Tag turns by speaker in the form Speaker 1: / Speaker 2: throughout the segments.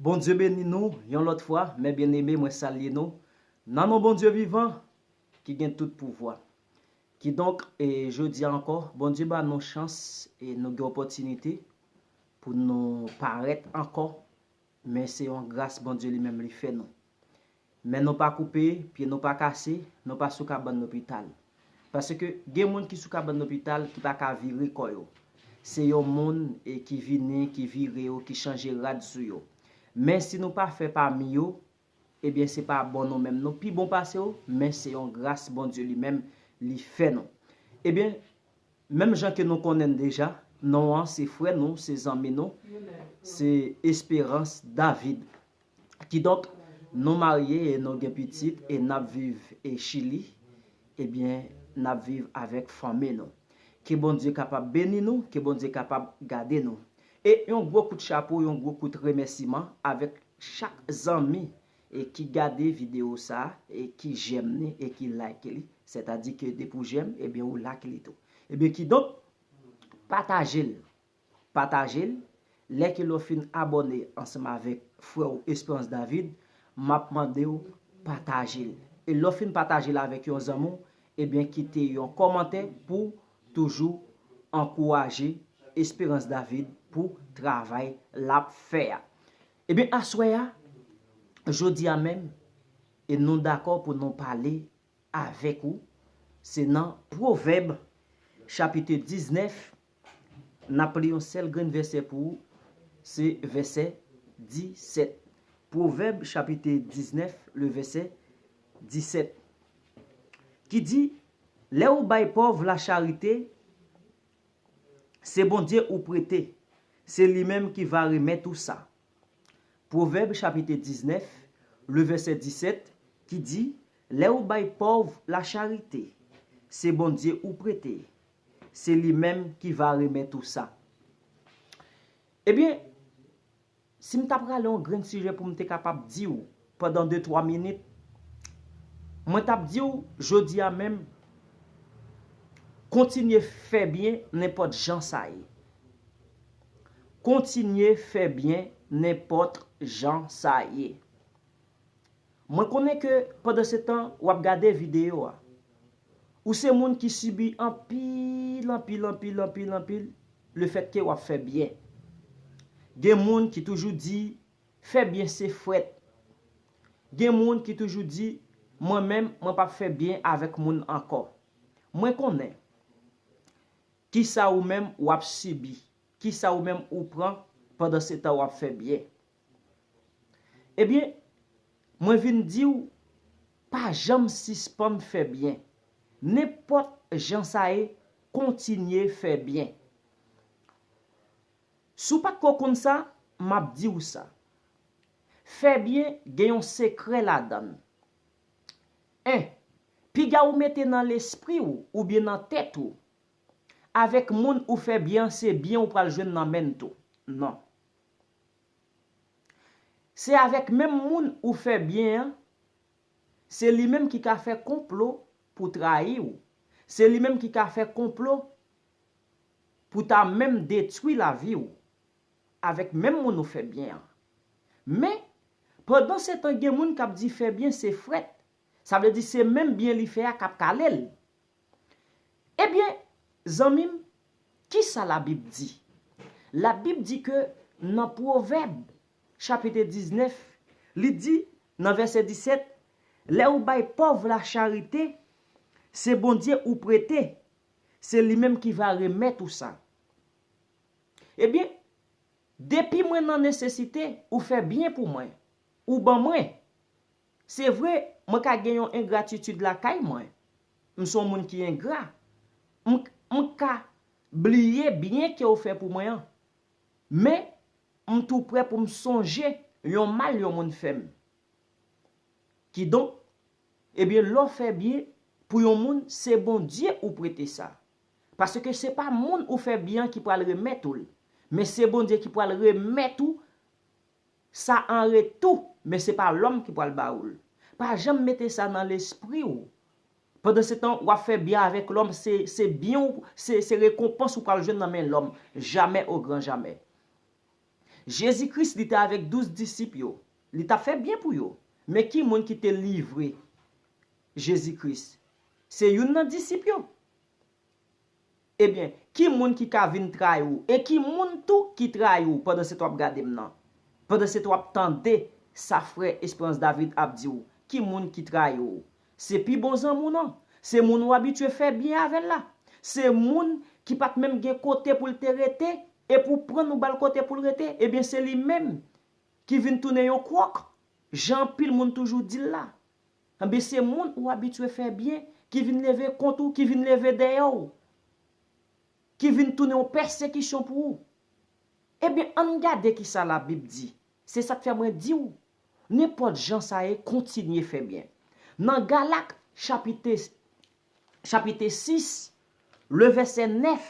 Speaker 1: Bondye beni nou yon lòt fwa mè byeneme mwen salye nou nan non Bondye vivan ki gen tout pouvwa kidonk e jodia ankò Bondye ba nou chans e nou gen opòtinite pou nou parèt ankò men se yon gras Bondye li menm li fè nou. Men nou pa koupe, pye nou pa kase, nou pa sou kabann lopital. Paske gen moun ki sou kabann lopital ki pa ka vire kò yo. Se yon moun e ki vini, ki vire yo, ki chanje rad sou yo. Men si nou pa fè pami yo, ebyen se pa bon nou menm nou pi bon pase yo, men se yon gras Bondye li menm li fè nou. Ebyen, menm jan ke nou konnen n deja, non an se frè nou, se zanmi nou, se Espérance David. Kidonk, nou marye e nou gen pitit e n ap viv Chili, ebyen, n ap viv avèk fanmi nou. Ke Bondye kapab beni nou, ke Bondye kapab gade nou. E yon gwo kout chapo, yon gwo kout remèsiman avèk chak zanmi e ki gade videyo sa a e ki jèm ni e ki like li, sètadi ke depi ou jèm, ebyen ou like li tou. Ebyen kidonk, pataje l, Patajel lè ke lè w fin abòne ansanm avèk frè w Esperance David map mande w patajel e lè w fin patajel avèk yon zanmi w ebyen kite yon kòmantè pouw toujou ankouraje Esperance David pou travay lap fè a ebyen aswè a jodi a menm e nou dakò pou nou pale avèk ou se nan pwovèb chapite 19 N ap li yon sèl grenn vèsè pou ou, se vèsè 17. Pwovèb chapite 19 le vèsè 17 ki di, Lè ou bay pòv lacharite, se Bondye ou prete, se li menm ki va remèt ou sa. Pwovèb chapite 19 le vèsè 17 ki di, Lè ou bay pòv lacharite, se Bondye ou prete, Se li menm ki va remèt ou sa. Ebyen, si m ta prale yon grenn sijè pou m te kapab di ou pandan de twa minit, mwen t ap di ou jodi a menm, kontinye fè byen nenpòt jan sa ye. Kontinye fè byen nenpòt jan sa ye. Mwen konnen ke pandansetan w ap gade videyo a, ou se moun ki sibi anpil, anpil, anpil, anpil, anpil lefètke w ap fè byen. Gen moun ki toujou di, fè byen se frèt. Gen moun ki toujou di, mwen menm, mwen p ap fè byen avèk moun ankò. Mwen konnen kisa ou menm w ap sibi, kisa ou menm ou pran pandansetan w ap fè byen. Ebyen, mwen vin di w, pa janm sispann fè byen. Nenpòt jan sa ye, kontinye fè byen. Si w pa t ko konn sa, m ap di w sa. Fè byen gen yon sekrè ladan l. 1, Piga ou mete nan lespri w oubyen nan tèt ou, avèk moun ou fè byen an se byen ou pral jwenn nan men l tou. Non. Se avèk menm moun ou fè byen an, se li menm ki ka fè konplo pou trayi ou, se li menm ki ka fè konplo pou ta menm detwi lavi ou, avèk menm moun ou fè byen an. Men, pandan se tan gen moun k ap di fè byen se frèt, sa vle di se menm byen li fè a k ap kale l. Ebyen, zanmi m, ki sa Labib di? Labib di ke nan Pwovèb, chapite 19, li di, nan vèsè 17, Lè ou bay pòv la charite, se Bondye ou prete, se li menm ki va remèt ou sa. Ebyen, depi mwen nan nesesite, ou fè byen pou mwen, ou ban mwen. Se vre, mwen ka gen yon engratitid lakay mwen. M s on moun ki engra. M k, m ka, bliye byen ke w fè pou mwen an. Men, m tou prè pou m sonje yon mal yon moun fè m. Kidonk, ebyen lè w fè byen pou yon moun se Bondye ou prete sa. Paske se pa moun ou fè byen an ki pral remèt ou l, men se Bondye ki pral remèt ou Sa an retou, men se pa lòm ki pral ba ou l. Pa janm mete sa nan lespri ou. Pandansetan, w ap fè byen avèk lòm, se se byen ou, se se rekonpans ou pral jwenn nan men lòm. Jamè ogran jamè. Jezi Kris, li te avèk douz disip yo. Li t ap fè byen pou yo. Men ki moun ki te livre Jezi Kris? Se youn nan disip yo. Ebyen, ki moun ki ka vin trayi w? E ki moun tou ki trayi w pandan se t w ap gade m nan? Pandan se t w ap tande sa frè Esperance David ap di w? Ki moun ki trayi w? Se pi bon zanmi w nan? Se moun ou abitye fè byen avè l la? Se moun ki pa t menm gen kote pou l te rete e pou w pran l ou ba l kote pou l rete? Ebyen se li menm ki vin tounen yon kwòk, jan anpil moun toujou di l la. Enben se moun ou abitye fè byen ki vin leve kont ou, ki vin leve dèyè w, ki vin tounen yon pèsekisyon pou ou. Enben, ann gade ki sa Labib di. Se sa k fè mwen di w, nenpòt jan sa ye, kontinye fè byen. Nan Galat chapit 6, levèsè 9,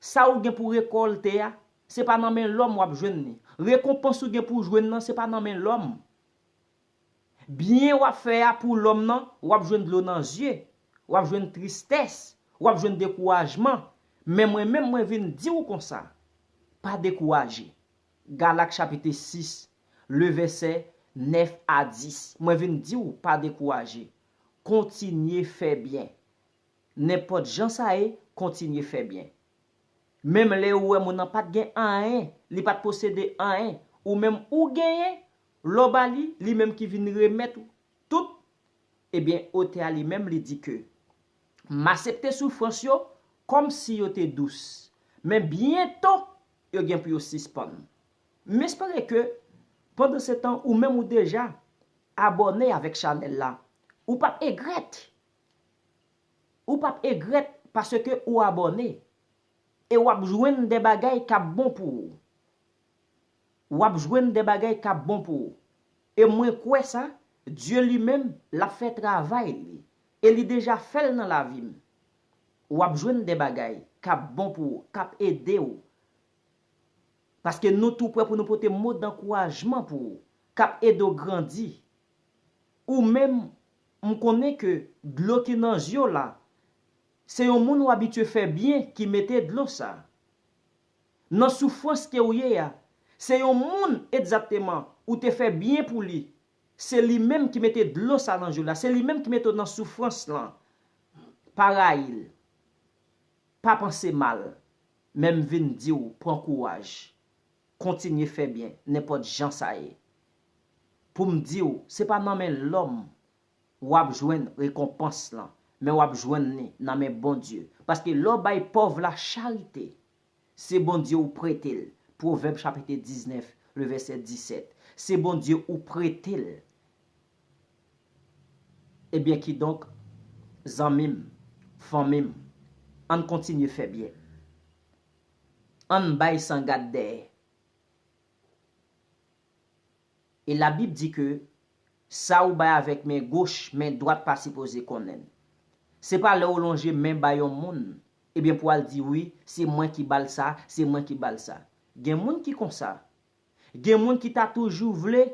Speaker 1: Sa ou gen pou rekòlte a, se pa nan men lòm w ap jwenn li. Rekonpans ou gen pou w jwenn nan, se pa nan men lòm. Byen w ap fè a pou lòm nan, w ap jwenn dlo nan zye, w ap jwenn tristès, w ap jwenn dekourajman, men mwen menm mwen vin di w konsa, Pa dekouraje. Galak chapite 6, le vèsè 9 a 10, mwen vin di w pa dekouraje. Kontinye fè byen. Nenpòt jan sa ye, kontinye fè byen. Menm lè ou wè moun nan pa t gen anyen, li pa t posede anyen, ou menm ou genyen, lè w ba li, li menm ki vin remèt ou tout, ebyen otè a li menm li di ke, M asepte soufrans yo kòm si yo te dous, men byento yo gen pou yo sispann. M espere ke pandansetan ou menm ou deja abòne avèk chanèl la, ou p ap egrèt Ou pap egret paske ou abone e wap jwenn de bagay kap bon pou ou. Wap jwenn de bagay kap bon pou ou. E mwen kwe sa, Dye li menm lap fe travay li. E li deja fel nan lavim. Wap jwenn de bagay kap bon pou ou, kap ede ou. Paske nou tou pre pou nou pote mo dankourajman pou ou, kap ede ou grandi ou menm m konnen ke dlo ki nan zye w la se yon moun w abitye fè byen ki mete dlo sa. Nan soufrans ke w ye a, se yon moun egzakteman ou te fè byen pou li, se li menm ki mete dlo sa nan je w la, se li menm ki mete w nan soufrans lan. Pa rayi l, pa panse mal, men m vin di w pran kouraj, kontinye fè byen nenpòt jan sa ye. pou m di w se pa nan men lòm w ap jwenn rekonpans lan, men w ap jwenn li nan men Bondye. Paske lè w bay pòv la charite, se Bondye ou prete l, Pwovèb chapite 19, le vèsè 17, se Bondye ou prete l. Ebyen kidonk, zanmi m, fanmi m, an n kontinye fè byen. An n bay san gad dèyè. E la bib di ke sa ou bay avèk men goch men dwat pa sipoze konnenn. Se pa lè ou lonje men bay yon moun ebyen pou al di wi se mwen ki bal sa, se mwen ki bal sa. Gen moun ki konsa. Gen moun ki ta toujou vle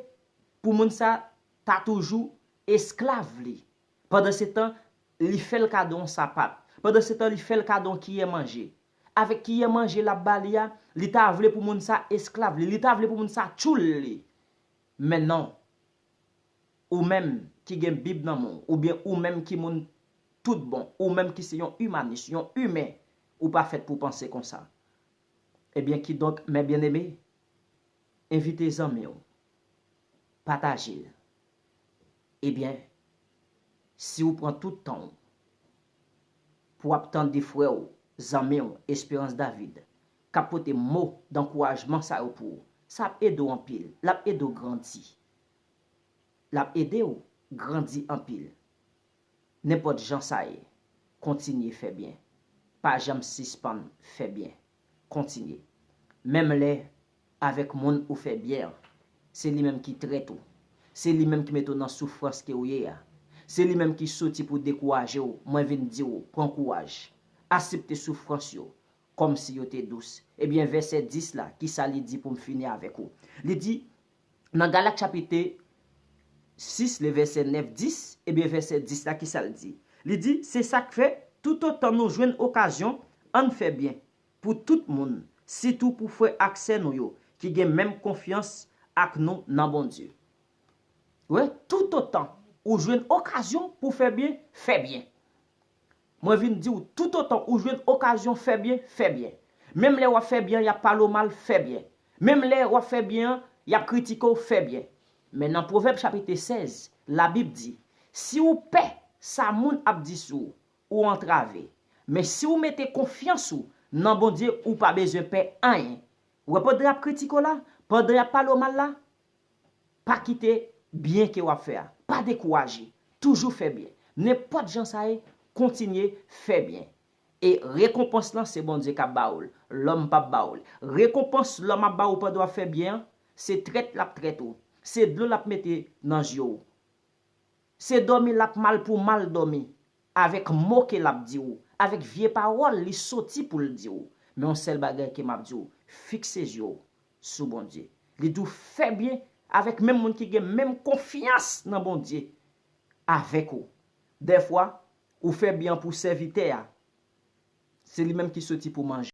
Speaker 1: pou moun sa ta toujou esklav li. Pandansetan, li fè l kado yon sapat. Pandansetan, li fè l kado yon kiyè manje. Avèk kiyè manje l ap ba li a, li ta vle pou moun sa a esklav li, li ta vle pou moun sa a tchoul li. Men non. Ou menm ki gen Bib nan men w, oubyen ou menm ki moun toutbon, ou menm ki se yon imanis, yon imen, ou pa fèt pou w panse konsa. Ebyen, kidonk, mè byeneme, envite zanmi w, pataje l, Ebyen si ou pran tout tan ou pou ap tande frè ou, zanmi ou Esperance David k ap pote mo dankourajman sa yo pou ou, sa ap ede w anpil, l ap ede w grandi. L ap ede w grandi anpil. Nenpòt jan sa ye, kontinye fè byen. Pa janm sispann fè byen. Kontinye. Menm lè Avèk moun ou fè byen an. Se li menm ki trèt ou. Se li menm ki mete w nan soufrans ke w ye a. Se li menm ki soti pou dekouraje w, mwen vin di w, pran kouraj. Asepte soufrans yo, kòm si yo te dous. Ebyen vèsè 10 la, ki sa li di pou m fini avèk ou? Li di, nan Galat chapite 6 le vèsè 9, 10, ebyen vèsè 10 la ki sa l di? Li di, se sa k fè, toutotan nou jwenn okazyon, ann fè byen. pou tout moun, sitou pou frè ak sè nou yo ki gen menm konfyans ak nou nan Bondye. Wè, toutotan ou jwenn okazyon pou fè byen, fè byen. Mwen vin di ou, toutotan ou jwenn okazyon fè byen, fè byen. Menm lè w ap fè byen an y ap pale w mal, fè byen. Menm lè w ap fè byen an, y ap kritike w, fè byen. Men nan Pwovèb chapit 16, Labib di, Si ou pè sa moun ap di sou ou, ou antrave. Men si ou mete konfyans ou nan Bondye ou pa bezwen pè anyen. Wè pandè yap kritike w la, pandan yap pale w mal la, pa kite byen ke wap fè a, pa dekouraje, toujou fè byen. Nenpòt jan sa ye, kontinye fè byen. E rekonpans lan se Bondye kap ba ou l, lòm pap ba ou l. Rekonpans lòm ap ba ou pandan wap fè byen an, se trèt lap trèt ou, se dlo lap mete nan zye w. Se dòmi lap mal pou mal dòmi avèk mo ke lap di ou, avèk vye pawòl li soti pou l di ou. Men yon sèl bagay ke map di ou, fikse zye ou sou Bondye. Li di ou fè byen avèk menm moun ki gen menm konfyans nan Bondye avèk ou. Dèfwa, ou fè byen pou sèvitè a, se li menm ki soti pou manje.